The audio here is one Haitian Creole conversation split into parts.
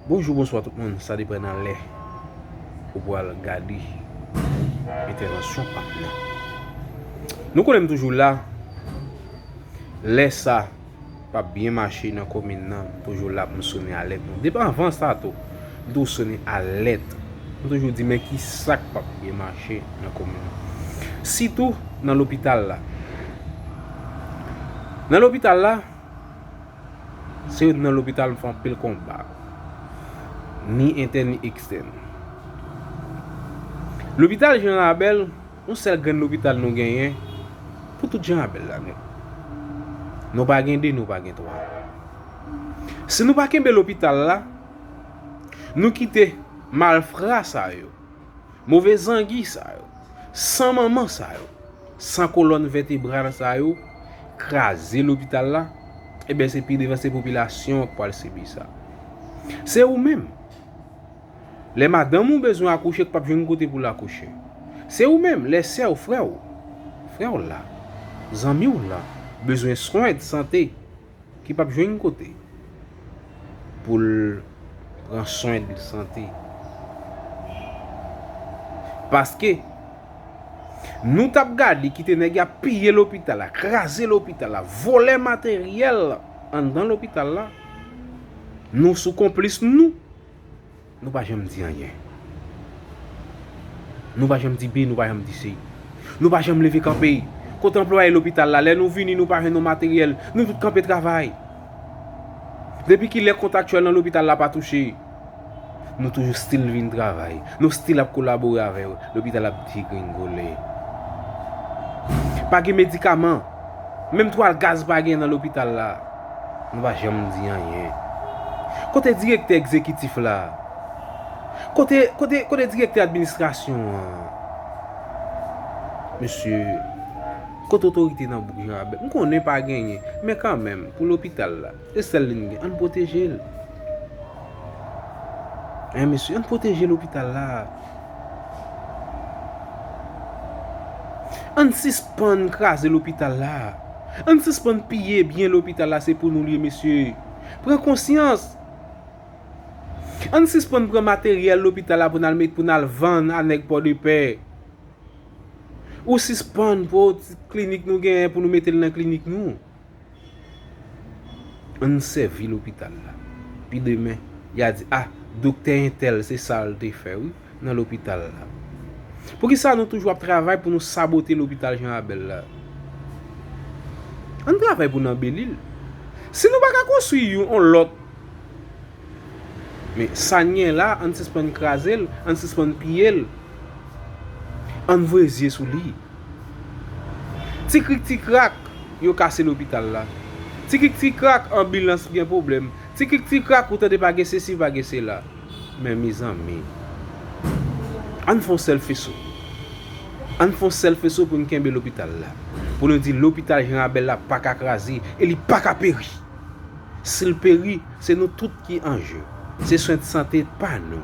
Bonjou bonswa tout moun sa depan nan lè ou pwal gade entèvansyon pam nan nou konnen m toujou la lè sa pap byen mache nan komin nan m toujou la pou m sone alèt nou depi anvan sa tou m toujou sone alèt m toujou di men ki sa k pap byen mache nan komin nan sitou nan lopital la nan lopital la Se nan lopital m fè anpil konba, ni entèn ni ekstèn. Lopital Jean Rabel, yon sèl grenn lopital nou genyen pou tout Jean Rabel la nèt. Nou pa gen 2, nou pa gen 3. Si nou pa kenbe lopital la, nou kite malfra sa yo. Move zangi sa yo, san manman sa yo, san kolòn vètebral sa yo kraze lopital la, eben se pi devan se popilasyon an k pwal sibi sa. Se ou menm, lè madanm ou bezwen akouche k pap jwenn kote pou l akouche. Se ou menm, lè sè w, frè w, frè w la, zanmi w la bezwen swen sante. Ki pap jwenn kote pou l pran swen de sante. Paske, nou tap gade kite nèg ya piye lopital la, kraze lopital la, vole materyèl anndan lopital la, nou sou konplis nou. Nou pa janm di anyen. Nou pa janm di bi, nou pa janm di si. Nou pa janm leve kanpe. Kote anplwaye lopital la, lè nou vini nou pa jwenn yon materyèl, nou tout kanpe travay. Depi ki lè kontaktyèl nan lopital la pa touche, nou toujou stil vin travay. Nou stil ap kolabore avè yo. Lopital ap degringole. Pa gen medikaman. Menm twal gaz pa gen nan lopital la. Nou pa janm di anyen. Kote direktè egzekitif la? Kote, kote, kote direktè administrasyon an? Mesye, kote otorite nan bouk Janrabèl? M konnen pa genyen, men kanmenm, pou lopital la, se sèl li n gen, ann pwoteje l. Hein mesye, ann pwoteje lopital la. Ann sispann kraze lopital la. Ann sispann piye byen lopital la se pou nou l ye mesye. Pran konsyans. Ann sispann pran materyèl lopital la pou n al pou n al vann a nèg pòdepè. Ou sispann pran ti klinik nou genyen pou nou mete l nan klinik nou. An n sèvi lopital la. Pi demen, y a di, A, doktè entèl se sa l te fè wi nan lopital la. Poukisa nou toujou ap travay pou nou sabote lopital Janrabèl la? An n travay pou n anbeli l. Si nou pa ka konstwi yon lòt Men sa n gen la, ann sispann kraze l, ann sispann piye l, ann voye zye sou li. Ti krik ti krak, yo kase lopital la. Ti krik ti krak, anbilans gen pwoblèm. Ti krik ti krak, ou tande pa gen sesi, pa gen sela. Men mezanmi, ann fè yon sèl feso. Ann fè yon sèl feso pou n kenbe lopital la. Pou nou di lopital Jan Rabèl la pa ka kraze e li pa ka peri. Sil peri, se nou tout ki an je. Se swen sante pa nou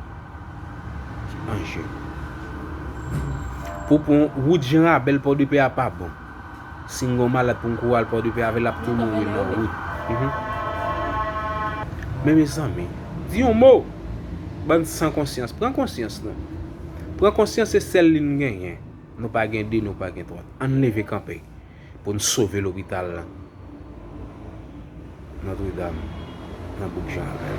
ki an je. Pou pran wout Jan Rabèl Pòdepè a pa bon. Si m gen yon malad pou m kouri al Pòdepè avè l ap tou mouri nan wout. Men mezanmi, di yon mo! Bann san konsyans, pran konsyans nou. Pran konsyans se sèl li n genyen. Nou pa gen de, nou pa gen twat. Ann leve kanpe. pou n sove lopital la Notre Dame nan bouk Jan Akay.